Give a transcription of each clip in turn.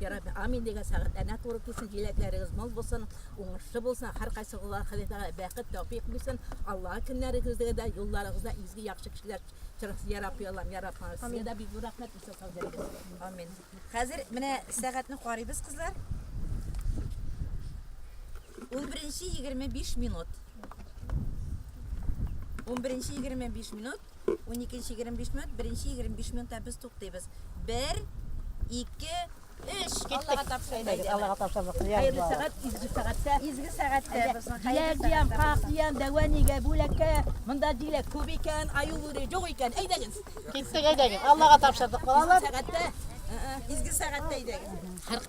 Ярабби, амин дигән сәгать әнә туры килсен, җиләкләрегез мул булсын, уңышлы булсын, һәркайсыгызга Ходай Тәгалә бәхет, тәүфик бирсен. Аллага көннәрегездә дә, юлларыгызда изге яхшы кешеләр чыгырсын, я Рабби Аллам, я Рабби Аллам. Сезгә дә бик зур рәхмәт, бик зур сау булыгыз. Амин. Хәзер менә сәгатьне карыйбыз, кызлар. 11:25 минут. 11:25 минут. Уникенче егерме биш минут, беренче егерме биш минутта без туктыйбыз. Бер, ике, өч. Аллага тапшырдык. Аллага тапшырдык. Хәерле сәгать, изге сәгатьтә. Изге сәгатьтә безнең хәерле сәгатьтә. Дияр, как дияр, дәва нигә бүләккә? Монда диләк күп икән, аю бүре юк икән. Әйдәгез. Киттек, әйдәгез. Аллага тапшырдык, балалар. Сәгатьтә, изге сәгатьтә әйдәгез.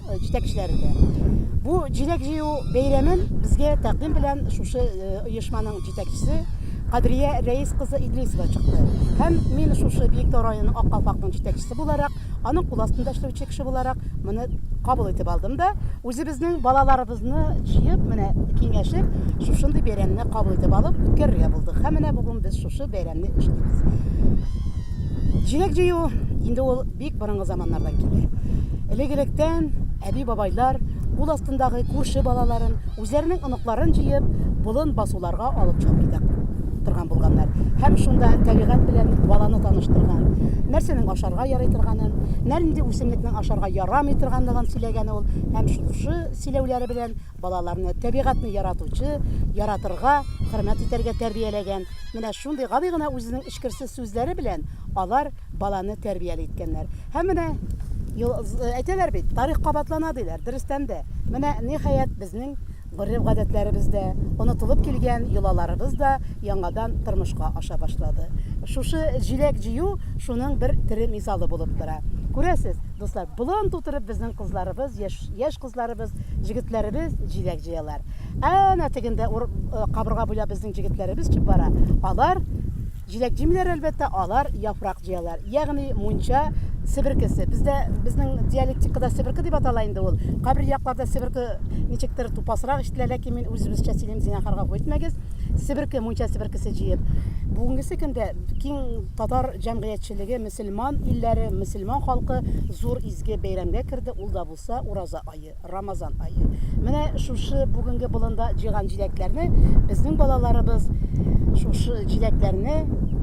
җитәкчеләре дә. Бу җиләк җыю бәйрәмен безгә тәкъдим белән шушы оешманың җитәкчесе Кадрия Рәис кызы Идрисова чыкты. Һәм мин шушы Биектау районы Ак калфакның җитәкчесе буларак, аның кул астында эшләүче кеше буларак моны кабул итеп алдым да, үзебезнең балаларыбызны җыеп, менә киңәшеп, шушындый бәйрәмне кабул итеп алып үткәрергә булдык. Һәм менә бүген без шушы бәйрәмне эшлибез. Җиләк җыю инде ул бик борынгы заманнардан килә. Элек-электән әби-бабайлар кул астындагы күрше балаларын, үзләренең оныкларын җыеп, болын басуларга алып чыгып китә торган булганнар. Һәм шунда табигать белән баланы таныштырган. Нәрсәнең ашарга ярый торганын, нәрнди үсемлекнең ашарга ярамый торганлыгын сөйләгән ул. Һәм шушы сөйләүләре белән балаларны табигатьне яратучы, яратырга, хөрмәт итәргә тәрбияләгән. Менә шундый гади гына үзенең эчкерсез сүзләре белән алар баланы тәрбияли иткәннәр. Һәм менә әйтәләр бит, тарих кабатлана диләр, дөрестән дә. Менә ниһаять безнең гореф-гадәтләребез дә, онытылып килгән йолаларыбыз да яңадан тормышка аша башлады. Шушы җиләк җыю шуның бер тере мисалы булып тора. Күрәсез, дуслар, болан тутырып безнең кызларыбыз, яшь, яшь кызларыбыз, җегетләребез җиләк җыялар. Әнә тегендә кабырга буйлап безнең җегетләребез чык бара. Алар Җиләк-җимләр, әлбәттә, алар яфрак җыялар, ягъни мунча себеркесе. Бездә, безнең диалектикада себерке дип атала инде ул. Кайбер якларда себерке ничектер тупасрак ишетелә, ләкин мин үзебезчә сөйлим, зинахарга үтмәгез. Себерке, мунча себеркесе җыеп. Бүгенгесе көндә киң татар җәмгыятьчелеге, мөселман илләре, мөселман халкы зур изге бәйрәмгә керде, ул да булса Ураза ае. Рамазан айы. Менә шушы бүгенге болында җыйган җиләкләрне безнең балаларыбыз шушы җиләкләрне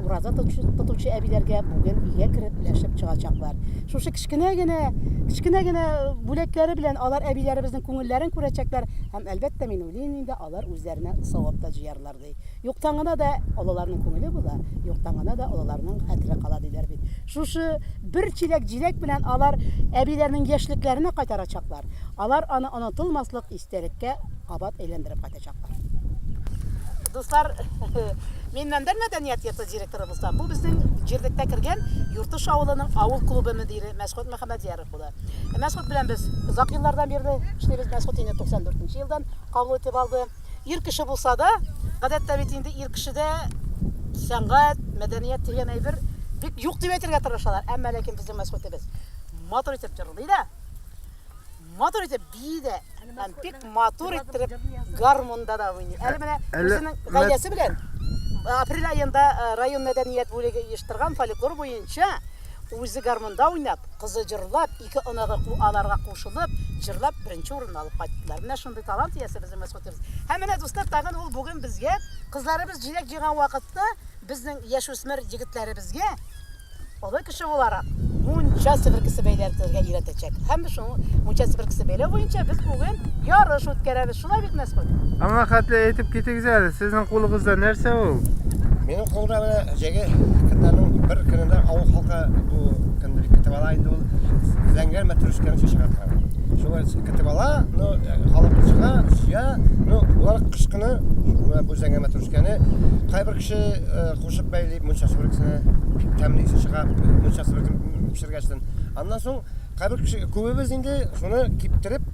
ураза тотучы әбиләргә бүген өйгә кереп өләшеп чыгачаклар. Шушы кечкенә генә, кечкенә генә бүләкләре белән алар әбиләребезнең күңелләрен күрәчәкләр һәм әлбәттә мин уйлыйм инде алар үзләренә савап та җыярлар. Юктан гына да олыларның күңеле була, юктан гына да олыларның хәтере кала, диләр бит. Шушы бер чиләк җиләк белән алар әбиләрнең яшьлекләренә кайтарачаклар. Алар аны онытылмаслык истәлеккә кабат әйләндереп кайтачаклар. Дуслар, мин Мәндәр мәдәният йорты директоры булсам, бу безнең җирлеккә кергән Юртыш авылының авыл клубы мөдире Мәсгут Мөхәммәдьяров була. Мәсгут белән без озак еллардан бирле эшлибез. Мәсгут инде 94 нче елдан кабул итеп алды. Ир кеше булса да, гадәттә бит инде ир кешедә сәнгать, мәдәният дигән әйбер бик юк дип әйтергә тырышалар. Әмма ләкин безнең мәсгутебез матур итеп җырлый да, матур итеп бии дә, һәм бик матур иттереп гармунда да уйный. Әле менә Әле- үзенең гаиләсе белән э, апрель аенда э, район мәдәният бүлеге оештырган фольклор буенча үзе гармунда уйнап, кызы җырлап, Ике оныгы ку аларга кушылып, җырлап, беренче урынны алып кайттылар. Менә шундый талант иясе безнең мәсгутебез. Һәм менә, дуслар, тагын ул бүген безгә, кызларыбыз җиләк җыйган вакытта, безнең яшүсмер егетләребезгә, олы кеше буларак, мунча себеркесе бәйләртергә өйрәтәчәк. Һәм без шуның мунча себеркесе бәйләү буенча без бүген ярыш үткәрәбез. Шулай бит, Мәсхүт? Аңа хәтле әйтеп китегез әле, сезнең кулыгызда нәрсә ул? Минем кулда менә җәге көннәрнең бер көнендә авыл халкы бу көнне бик көтеп ала инде ул зәңгәр мәтрүшкәне чәчәк аткан. Шулай көтеп ала, ну, э, халык чыга, сөя, ну, улар кыш көне э, бу зәңгәр мәтрүшкәне кайбер кеше э, кушып бәйли мунча сүрексенә, бик тәмле исе чыга мунча сүрексен пешергәчтен. Аннан соң кайбер кеше күбебез инде шуны киптереп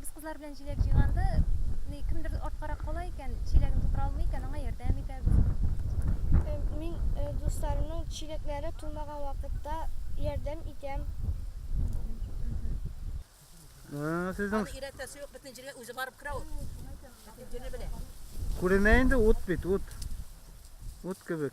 Без кызлар белән җиләк җыйганда, ни кемдер арткарак кала икән, чиләген тутыра алмый икән, аңа ярдәм итәбез. Э, мин э, дусларымның чиләкләре тулмаган вакытта ярдәм итәм. Сезнең Аны өйрәтәсе юк, бөтен җиргә үзе барып керә ул. Бөтен җирне белә. күренә инде ут бит, ут. Ут кебек.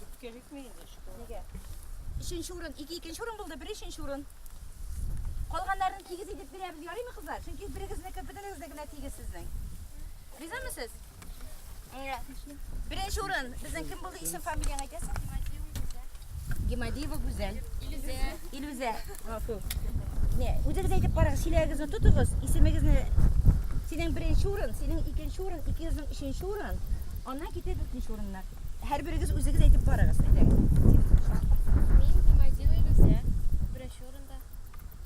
Бөткә җитми инде шикелле. Нигә? Өченче урын, ике икенче урын булды, бер өченче урын. Калганнарын тигез итеп бирәбез, ярыймы кызлар? Чөнки берегезнеке, бөтенегезнеке генә тигез сезнең. Ризамы сез? Беренче урын, безнең кем булды, исем фамилияң әйтәсең? Гемадиева Гүзәл. Илүзә. Илүзә. Гафу. Не, үзегез әйтеп карагыз, чиләгегезне тотыгыз, исемегезне Синең беренче урын, синең икенче урын, икегезнең өченче урын, аннан китә дүртенче урыннар. Һәрберегез үзегез әйтеп карагыз, әйдәгез. Мин Гемадиева Илүзә, беренче урында.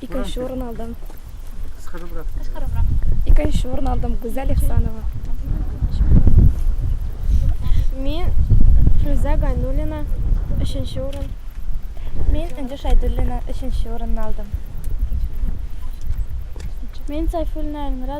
Икенче урын алдым. Кыскарыбрак. Кыскарыбрак. Икенче урын алдым. Гүзәл Ихсанова. Мин Фруза Гайнулина, өченче урын. Мин Энҗе Шайдуллина, өченче урынны алдым. Мин Сайфуллина Эльмира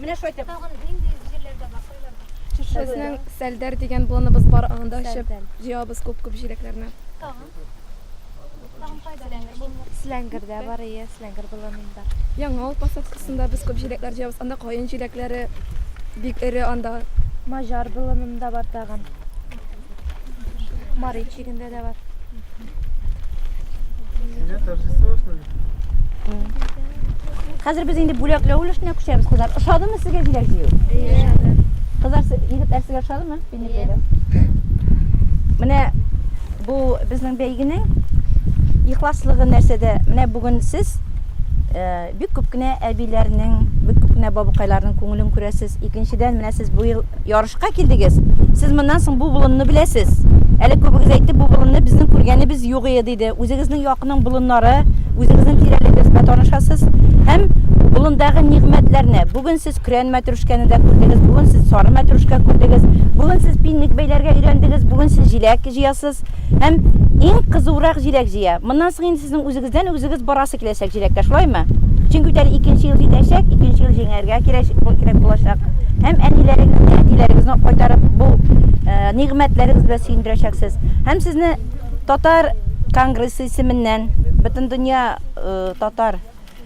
Менә шулай итеп. Тагын нинди җирләрдә бар, кайларда? Безнең Сәлдәр дигән болыныбыз бар, анда эчеп җыябыз күп-күп җиләкләрне. Тагын? Тагын кайда? Силәңгердә бар, ие, Силәңгер болынында. Яңа авыл посадкасында без күп җиләкләр җыябыз, анда каен җиләкләре бик эре анда. Маҗар болынында бар тагын. Марич. Егендә дә бар. Сине торжество шулай. Хәзер без инде бүләкләү өлешенә күчәбез, кызлар. Ошадымы сезгә җиләк җыю? Ошады. Кызлар, егетләр сезгә ошадымы? Бинек бәйрәм. Менә бу безнең бәйгенең ихласлыгы нәрсәдә? Менә бүген сез э, Бик күп кенә әбиләрнең, бик күп кенә бабыкайларның күңелен күрәсез. Икенчедән, менә сез бу ел ярышка килдегез. Сез моннан соң бу болынны беләсез. Әле күбегез әйтте, бу болынны безнең күргәнебез юк ие диде. Үзегезнең якның болыннары, үзегезнең тирәлегез белән танышасыз һәм болындагы нигъмәтләрне, бүген сез көрән мәтрүшкәне дә күрдегез, бүген сез сары мәтрүшкә күрдегез, бүген сез пинник бәйләргә өйрәндегез, бүген сез җиләк җыясыз һәм иң кызурак җиләк җыя. Моннан соң инде сезнең үзегез Сездән үзегез барасы киләчәк җиләккә, шулаймы? Чөнки ул әле икенче ел җитәчәк, икенче ел җиңәргә кирәк булачак. Һәм әниләрегезне, әтиләрегезне кайтарып, бу нигъмәтләрегез белән сөендерәчәксез. Һәм сезне Татар конгрессы исеменнән, Бөтендөнья татар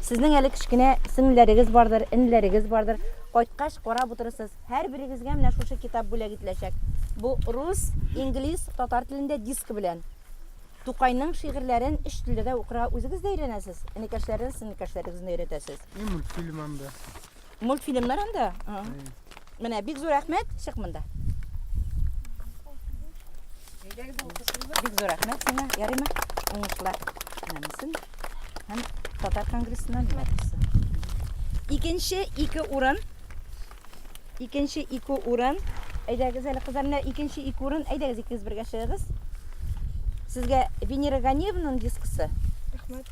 Сезнең әле кечкенә сеңлеләрегез бардыр, энеләрегез бардыр. Кайткач, карап утырырсыз. Һәрберегезгә менә шушы китап бүләк ителәчәк. Бу рус, инглиз, татар телендә диск белән. Тукайның шигырьләрен өч телдә дә укырга үзегез дә өйрәнәсез, энекәшләрегез, сеңлекәшләрегезне өйрәтәсез. И мультфильм анда. Мультфильмнар анда. Менә бик зур рәхмәт, чык монда. Бик зур рәхмәт сиңа, ярыймы? Уңышлар. Намысын һәм татар конгрессына мәдәсе. Икенче ике урын. Икенче ике урын. Әйдәгез әле кызлар, менә икенче ике урын. Әйдәгез икегез бергә чыгыгыз. Сезгә Венера Ганиевнаның дискысы. Рәхмәт.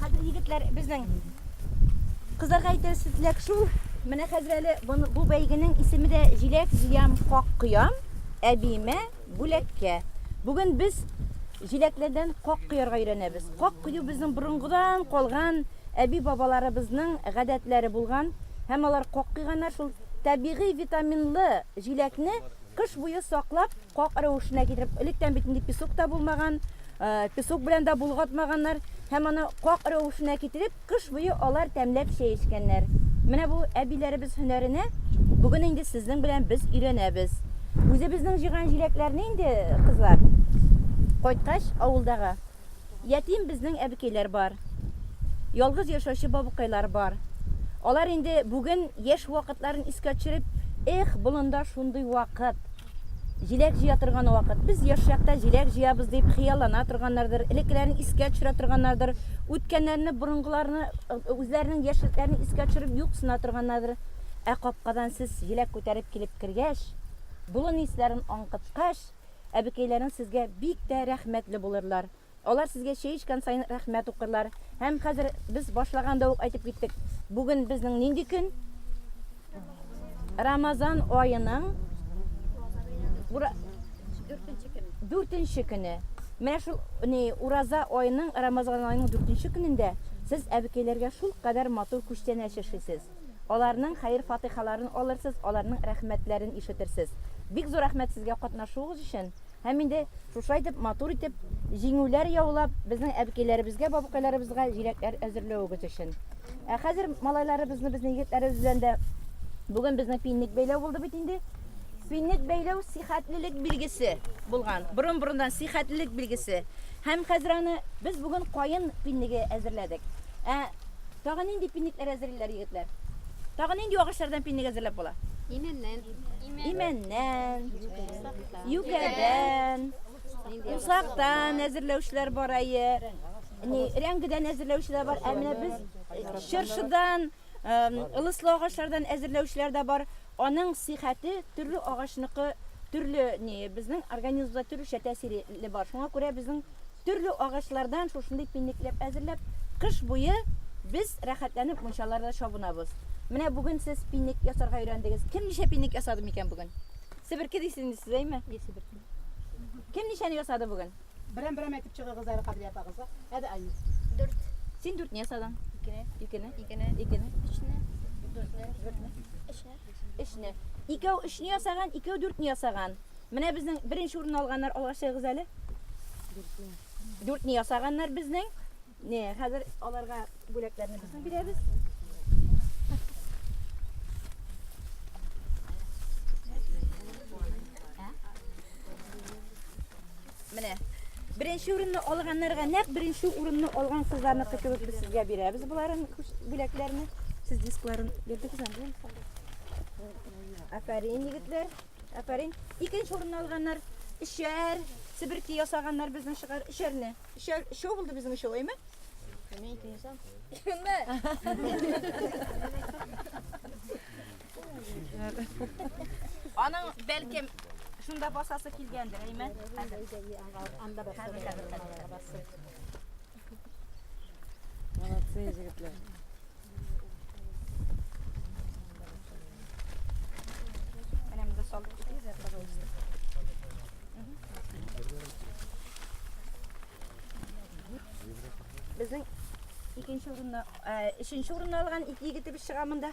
Хәзер егетләр безнең кызларга әйтер сүзләк шул. Менә хәзер әле бу бәйгенең исеме дә җиләк җыям, как коям, әбиемә бүләккә. Бүген без җиләкләрдән как коярга өйрәнәбез. Как кою безнең борынгыдан калган әби бабаларыбызның гадәтләре булган һәм алар как койганнар шул табигый витаминлы җиләкне кыш буе саклап Как рәвешенә китереп, электән бит инде песок та булмаган, песок белән дә болгатмаганнар һәм аны как рәвешенә китереп, кыш буе алар тәмләп чәй эчкәннәр. Менә бу әбиләребез һөнәренә бүген инде сезнең белән без өйрәнәбез. Үзебезнең җыйган җиләкләрне инде, кызлар, кайткач, авылдагы Ятим безнең әбекәйләр бар. Ялгыз яшәүче бабыкайлар бар. Алар инде бүген яшь вакытларын искә төшереп, Эх, болында шундый вакыт! Җиләк җыя торган вакыт. Без яшь чакта җиләк җыябыз, дип хыяллана торганнардыр, элеккеләрен искә төшерә торганнардыр, үткәннәрне, борынгыларны, үзләренең яшьлекләрен искә төшереп юксына торганнардыр. Ә капкадан сез җиләк күтәреп килеп кергәч, болын исләрен аңкыткач, Әбекәйләрең сезгә бик тә рәхмәтле булырлар. Алар сезгә чәй эчкән саен рәхмәт укырлар. Һәм хәзер без башлаганда ук әйтеп киттек, бүген безнең нинди көн? Рамазан аеның дүртенче көне. Дүртенче көне. Менә шул ни ураза аеның, Рамазан аеның дүртенче көнендә сез әбекәйләргә шулкадәр матур күчтәнәч яшисез. Аларның хәер-фатыйхаларын алырсыз, аларның рәхмәтләрен ишетерсез. Бик зур рәхмәт сезгә катнашуыгыз өчен. Һәм инде шушылай итеп, матур итеп, җиңүләр яулап, безнең әбекәйләребезгә, бабкайларыбызга җиләкләр әзерләвегез өчен. Ә хәзер малайларыбызны, безнең егетләребез белән дә бүген безнең пинник бәйләү булды бит инде. Пинник бәйләү сихәтлелек билгесе булган. Борын-борыннан сихәтлелек билгесе. Һәм хәзер аны без бүген каен пинниге әзерләдек. Ә Тагы нинди пинникләр әзерлиләр егетләр? Тагы нинди агачлардан пинник әзерләп була? Имәннән. Имәннән. Юкәдән. Усактан әзерләүчеләр бар әйе. Ни, рәңгедән әзерләүчеләр бар. Ә менә без э, чыршыдан, эм, ылыслы агачлардан әзерләүчеләр дә бар. Аның сихәте төрле агачныкы төрле ни, безнең организмда төрлечә тәэсире бар. Шуңа күрә безнең Төрле агачлардан шушындый пинникләп әзерләп, кыш буе без рәхәтләнеп мунчаларда чабынабыз. Менә бүген сез пинник ясарга өйрәндегез. Кем ничә пинник ясады микән бүген? Себерке дисез инде сез, әйме? Ие, себерке. Кем ничәне ясады бүген? Берәм-берәм әйтеп чыгыгыз әле Кадрия апагызга. Әде Айнур. Дүрт. Син дүртне ясадың. Икене. Икене. Икене. Икене. Өчне. Дүртне. Дүртне. Өчне. Өчне. Икәү өчне ясаган, икәү дүртне ясаган. Менә безнең беренче урынны алганнар, алга чыгыгыз әле. Дүртне. Дүртне ясаганнар безнең. Не, хәзер аларга бүләкләрне безнең бирәбез. Менә Беренче урынны алганнарга нәкъ беренче урынны алган кызларны көтүбез без сезгә бирәбез боларын бүләкләрне. Сез дискларын бирдегез анде. Афәрин егетләр. Афәрин. Икенче урынны алганнар. Өчәр. Себерки ясаганнар безнең шыгар. Өчәрне. Өчәр. Өчәү булды безнең өчәү, әйме? Мин икенче сам. Кемме? Аның бәлкем шунда басасы килгәндер, әйме? Анда басасы. Молодцы, егетләр. Прям до солнца, пожалуйста. Безнең икенче урынны, ә, өченче урынны алган ике егетебез чыга монда.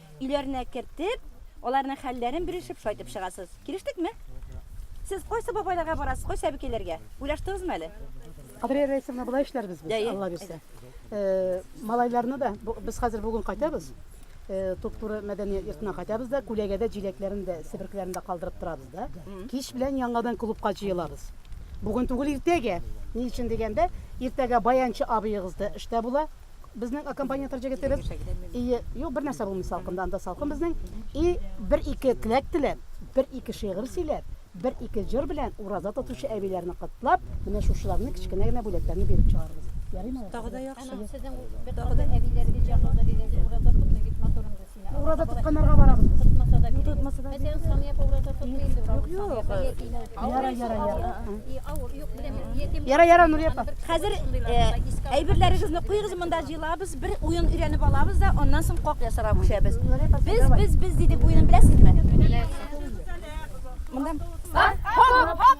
Өйләренә кертеп, аларның хәлләрен белешеп шайтып чыгасыз. Килештекме? Сез кайсы бабайларга барасыз, кайсы әбекәйләргә? Уйлаштыгызмы әле? Кадрия Рәисовна, болай эшләрбез без, Әйе. Алла бирсә. Э, Малайларны да бу- без хәзер бүген кайтабыз. Э, Туп-туры мәдәният йортына кайтабыз да, күләгәдә җиләкләрен дә, себеркеләрен дә калдырып торабыз да. Кич белән яңадан клубка җыелабыз. Бүген түгел, иртәгә. Ни өчен дигәндә, иртәгә баянчы абыегыз да эштә була. Безнең аккомпаниатор җегетебез и юк бер нәрсә булмый салкында анда салкын безнең и бер ике теләк теләп бер ике шигырь сөйләп бер ике җыр белән ураза тотучы әбиләрне котлап менә шушыларны кечкенә генә бүләкләрне биреп чыгарбыз ярыймы тагы да яхшы сезнең тагы да әбиләрегез җанлыгы дигән ураза тотмый бит матурым Ураза тотканнарга барабыз. Тотмаса да кирәк. Тотмаса да Мәсәлән, Самия ураза тотмый инде. Юк, юк. Яра, яра, яра. Авыр, юк, беләм. Яра, яра, Нурия апа. Хәзер әйберләрегезне куегыз, монда җыелабыз, бер уен өйрәнеп алабыз да, аннан соң как ясарга күчәбез. Без, без, без дидек уенын беләсезме? Монда. Хоп, хоп.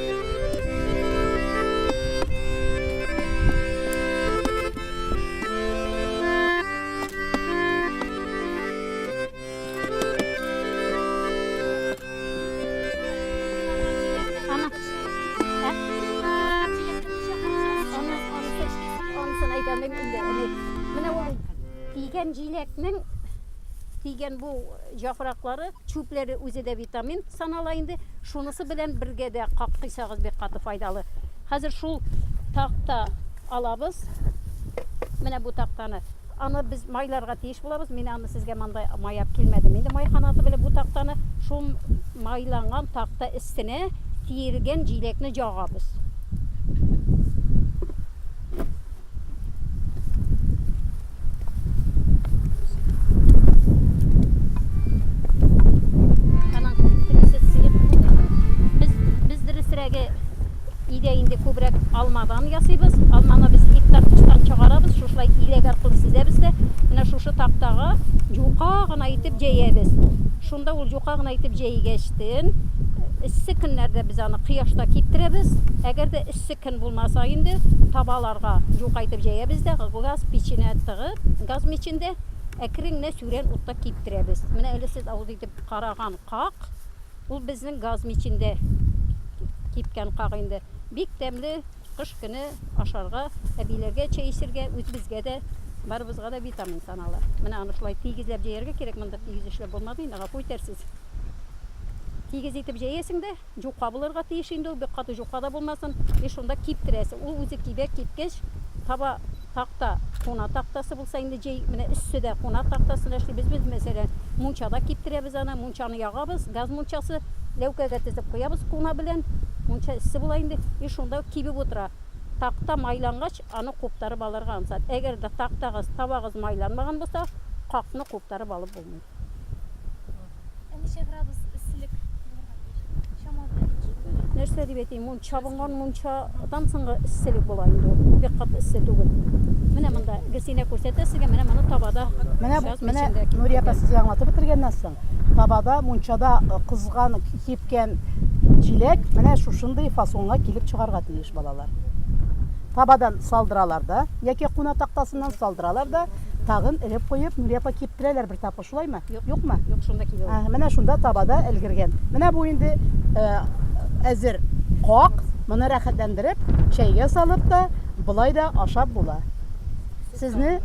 тигән җиләкнең тигән бу җапраклары Чүпләре үзе дә витамин санала инде, шунысы белән бергә дә каксыйсагыз бик каты файдалы. Хәзер шул такта алабыз. Менә бу тактаны. Аны без майларга тиеш булабыз. Мин аны сезгә монда маяп килмәдем. Инде май канаты белән бу тактаны шул майланган такта өстенә тиергән җиләкне җагабыз. алмадан ясыйбыз алманы без гектар тыштан чыгарабыз шушылай иләк аркылы сизәбез дә менә шушы тактага юка гына итеп җәябез шунда ул юка гына итеп җәйгәчтен эссе көннәрдә без аны кояшта киптерәбез әгәр дә эссе Көн булмаса инде, табаларга юкайтып җәябез дә, газ печенә тыгып, газ мичендә әкрен генә сүрән утта киптерәбез. Менә әле сез авыз итеп караган как, ул безнең газ мичендә кипкән как инде. Бик тәмле, кыш көне ашарга, әбиләргә чәй эчергә, үзебезгә дә, барыбызга да витамин санала. Менә аны шулай тигезләп җәяргә кирәк, монда тигез эшләп булмады инде, гафу итәрсез. Тигез итеп җәясең дә. Җука булырга тиеш инде ул, бик каты җука да булмасын. И шунда киптерәсе. Ул үзе кибә, кипкәч, таба такта, куна тактасы булса инде җәй, менә өссе дә куна тактасына эшли. Без, без мәсәлән, мунчада киптерәбез аны. Мунчаны ягабыз, газ мунчасы, ләүкәгә тезеп куябыз куна белән. Мунча эссе була инде. И шунда кибеп утыра. Такта майлангач, аны куптарып алырга ансат. Әгәр дә тактагыз, табагыз майланмаган булса, какны куптарып алып булмый. Ә ничә градус эсселек булырга тиеш? Чама белән. Нәрсә дип әйтим, мун чабынган мунчадан соңгы эсселек була инде ул. Бик кат эссе түгел. Менә монда Гөлсинә күрсәтә сезгә, менә моны табада. Менә бу, менә Нурия апа сезгә аңлатып бетергәннән соң, табада, мунчада э, кызган, кипкән җиләк менә шушындый фасонга килеп чыгарга тиеш балалар. Табадан салдыралар да, яки куна тактасыннан салдыралар да, Тагын элеп куеп, Нурия апа киптерәләр бер тапкыр, шулаймы? Юкмы? Юк, шунда кибә ул. Менә шунда табада элгергән. Менә бу инде э, әзер как, моны рәхәтләндереп, чәйгә салып та, болай да ашап була. Сезне,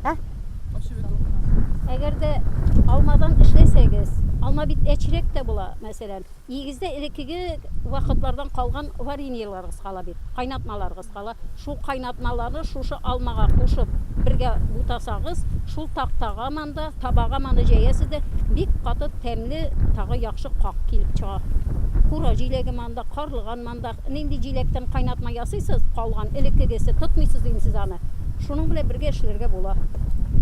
ә? Әгәр дә алмадан эшләсәгез, алма бит әчерәк тә була, мәсәлән. Нигездә элеккеге вакытлардан калган вареньеларыгыз кала бит, кайнатмаларыгыз кала. Шул кайнатмаларны шушы алмага кушып, бергә бутасагыз, шул тактага манда, табага маны җәясез дә, бик каты тәмле, тагы яхшы как килеп чыга. Кура җиләге манда, карлыган ман. Анда нинди җиләктән кайнатма ясыйсыз, калган, элеккегесе, тотмыйсыз дим сез аны. Шуның белән бергә эшләргә була.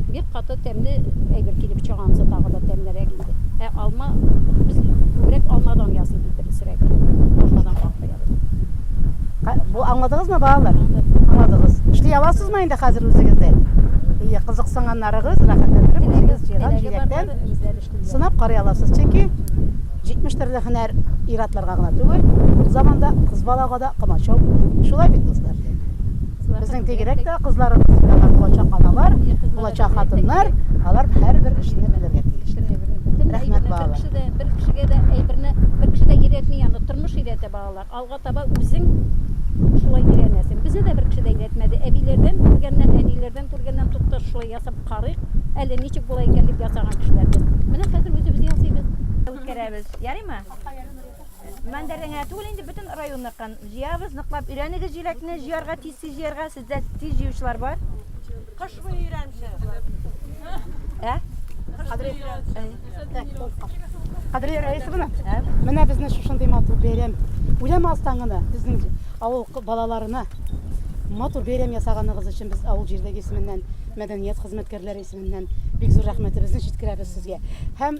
Бик каты тәмле әйбер килеп чыга, анысы тагы да тәмлерәк инде. Ә алма, без күбрәк алмадан ясыйбыз дөресрәге. Алмадан каплыйбыз. Бу аңладыгызмы, балалар? Аңладыгыз. Эшли аласызмы инде хәзер үзегез дә? Ие, кызыксынганнарыгыз, рәхәтләндереп үзегез җыйган җиләктән. Сынап карый аласыз, чөнки 70 төрле һөнәр ир-атларга гына түгел, ул заманда кыз балага да комачау булды. Шулай бит, дуслар? Безнең бигрәк тә кызларыбыз, алар булачак аналар, булачак хатыннар, алар һәрбер эшне белергә тиешләр. Рәхмәт, балалар. Бер кешегә дә әйберне, бер кеше дә өйрәтми аны, тормыш өйрәтә балалар. Алга таба үзең шулай өйрәнәсең. Безне дә бер кеше дә өйрәтмәде. Әбиләрдән күргәннән, әниләрдән күргәннән тукта шулай ясап карыйк әле, ничек була икән дип ясаган кешеләр без. Менә хәзер үзебез ясыйбыз. Үткәрәбез, ярыймы? Мәндәрдә генә түгел инде, бөтен районныкын җыябыз, ныклап өйрәнегез җиләкне җыярга, тиз-тиз җыярга. Бездә тиз җыючылар бар. Кыш буе өйрәнче. Ә? Кадри. Кадри Раисовна. Менә безне шушындый матур бәйрәм. Үләм астан гына безнең авыл балаларына матур бәйрәм ясаганыгыз өчен без авыл җирдәге исеменнән мәдәният хезмәткәрләре исеменнән бик зур рәхмәтебезне җиткерәбез сезгә һәм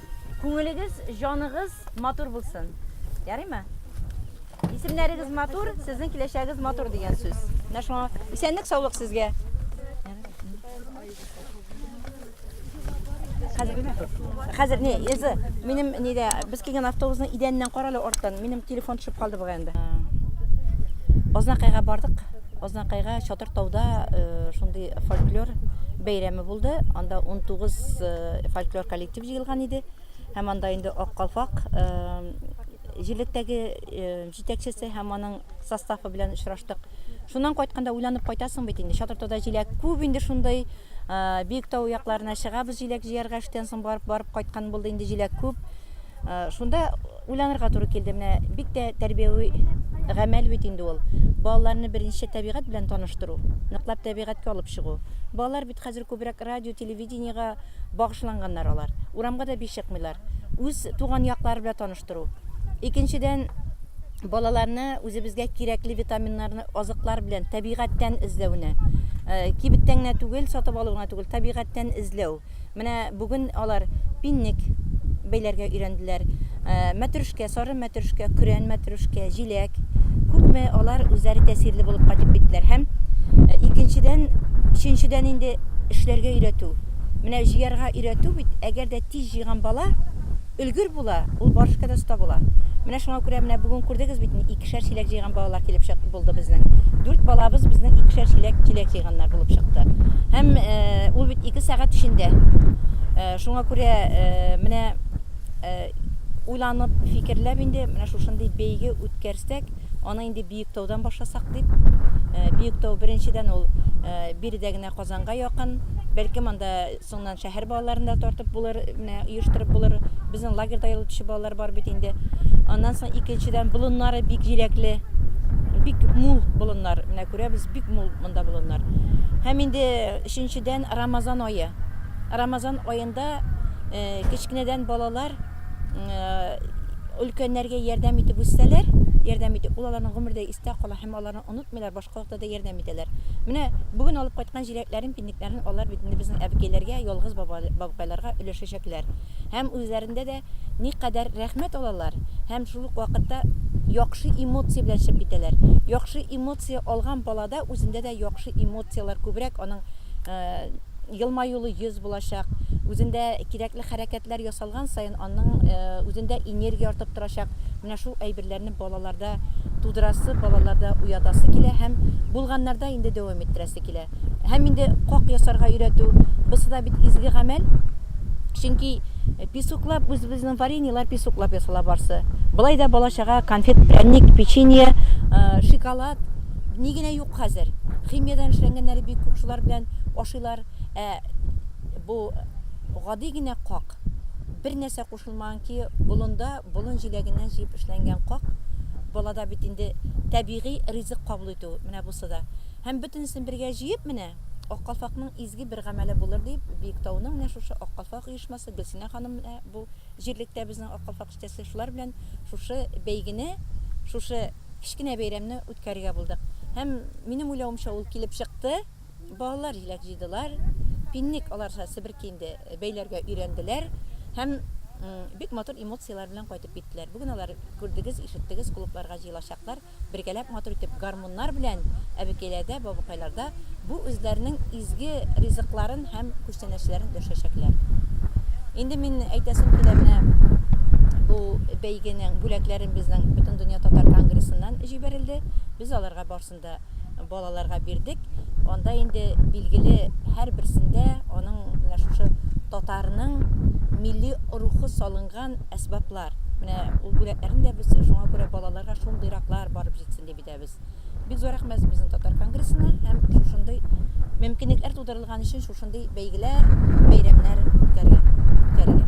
Күңелегез, җаныгыз матур булсын. Ярыймы? Исемнәрегез матур, сезнең киләчәгегез матур дигән сүз. Менә шуңа исәнлек, саулык сезгә. Хәзер не, эзе, минем нидә, без килгән автобусның идәненнән карале арттан, минем телефон төшеп калды бугай инде. Ознакайга бардык. Ознакайга Чатыр тауда э, шундый фольклор бәйрәме булды. Анда 19 э, фольклор коллективы Дип җыелган иде. Һәм анда инде Ак калфак җирлектәге җитәкчесе һәм аның составы белән очраштык. Шуннан кайтканда уйланып кайтасың бит инде. Чатыртода җиләк күп инде шундый. Бик тау якларына чыгабыз җиләк җыярга эштән соң барып барып кайткан булды инде җиләк күп. Шунда уйланырга туры килде. Менә бик тә тәрбияви гамәл бит инде ул. Балаларны беренче табигать белән таныштыру, ныклап табигатькә алып чыгу. Балалар бит хәзер күбрәк радио, телевидениегә багышланганнар алар. Урамга да биш чыкмыйлар. Үз туган яклары белән таныштыру. Икенчедән, балаларны үзебезгә кирәкле витаминнарны азыклар белән табигатьтән эзләүне, э, кибеттән генә түгел, сатып алу гына түгел, табигатьтән эзләү. Менә бүген алар пинник бәйләргә өйрәнделәр. Э, мәтрүшкә, сары Мәтрүшкә, көрән мәтрүшкә, җиләк. Күпме алар үзләре тәэсирле булып кайтып киттеләр һәм э, икенчедән, өченчедән инде эшләргә өйрәтү. Менә җыярга өйрәтү бит, әгәр дә тиз җыйган бала өлгер була, ул барышка да оста була. Менә шуңа күрә менә бүген күрдегез бит, икешәр чиләк җыйган балалар килеп чык булды безнең. Дүрт балабыз безнең икешәр чиләк чиләк җыйганнар булып чыкты. Һәм э, ул бит ике сәгать эчендә. Э, шуңа күрә э, менә уйланып, фикерләп инде менә шушындый бәйге үткәрсәк, аны инде Биектаудан башласак дип. Биектау беренчедән ул биредә генә Казанга якын, бәлкем анда соңнан шәһәр балаларын да тартып булыр, менә оештырып булыр. Безнең лагерьда ялгытучы балалар бар бит инде. Аннан соң икенчедән болыннары бик җиләкле, бик мул болыннар. Менә күрәбез, бик мул монда болыннар. Һәм инде өченчедән Рамазан ае. Рамазан аен Монда кечкенәдән балалар өлкәннәргә ярдәм итеп үссәләр, ярдәм итеп, ул аларның гомердә истә кала һәм аларны онытмыйлар, башка вакытта да ярдәм итәләр. Менә бүген алып кайткан җиләкләрен, пиннекләрен алар бит инде безнең әбекәйләргә, ялгыз бабкайларга өләшәчәкләр. Һәм үзләрендә дә никадәр рәхмәт алалар һәм шул ук вакытта яхшы эмоция белән чыгып китәләр. Яхшы эмоция алган балада үзендә дә яхшы эмоцияләр күбрәк аның Елмаюлы йөз булачак, үзендә кирәкле хәрәкәтләр ясалган саен аның үзендә энергия артып торачак. Менә шул әйберләрне балаларда тудырасы, балаларда уятасы килә һәм булганнарда инде дәвам иттерәсе килә. Һәм инде как ясарга өйрәтү, бысы да бит изге гамәл. Чөнки песоклап, үзебезнең вареньелар песоклап ясала барсы. Болай да бала-чага конфет, пряник, печенье, шиколад ни генә юк. Хәзер химиядән эшләнгәннәре бик күп, шулар белән ашыйлар. Ә бу гади генә как, бер нәрсә кушылмаган ки, болында болын җиләгеннән җыеп эшләнгән как, балада бит инде табигый ризык кабул итү, менә бусы да. Һәм бөтенесен бергә җыеп менә Ак калфакның изге бер гамәле булыр дип, Биектауның менә шушы Ак калфак оешмасы, Гөлсинә ханым менә бу җирлектә безнең Ак калфак эштәсе, шулар белән шушы бәйгене, шушы кечкенә бәйрәмне үткәрергә булдык. Һәм, минем уйлавымча, ул килеп чыкты. Балалар җиләк җыйдылар. Пинник аларча себерке инде бәйләргә өйрәнделәр. Һәм бик матур эмоцияләр белән кайтып киттеләр. Бүген алар, күрдегез, ишеттегез, клубларга җыелачаклар. Бергәләп матур итеп гармуннар белән әбекәйләрдә, бабакайларда бу үзләренең изге ризыкларын һәм Сәнәчеләрен дөршәчәкләр. Инде мин әйтәсем килә менә бу бәйгенең бүләкләрен безнең Бөтендөнья татар конгрессыннан җибәрелде. Без аларга барсын да балаларга бирдек. Анда инде билгеле һәрберсендә аның менә шушы татарның милли рухы салынган әсбаплар. Менә ул бүләкләрен дә без шуңа күрә балаларга шундыйраклар барып җитсен дип иде. Без бик зур рәхмәт безнең татар конгрессына һәм шушындый мөмкинлекләр тудырылган өчен шушындый бәйгеләр, бәйрәмнәр үткәргән, үткәрелгән.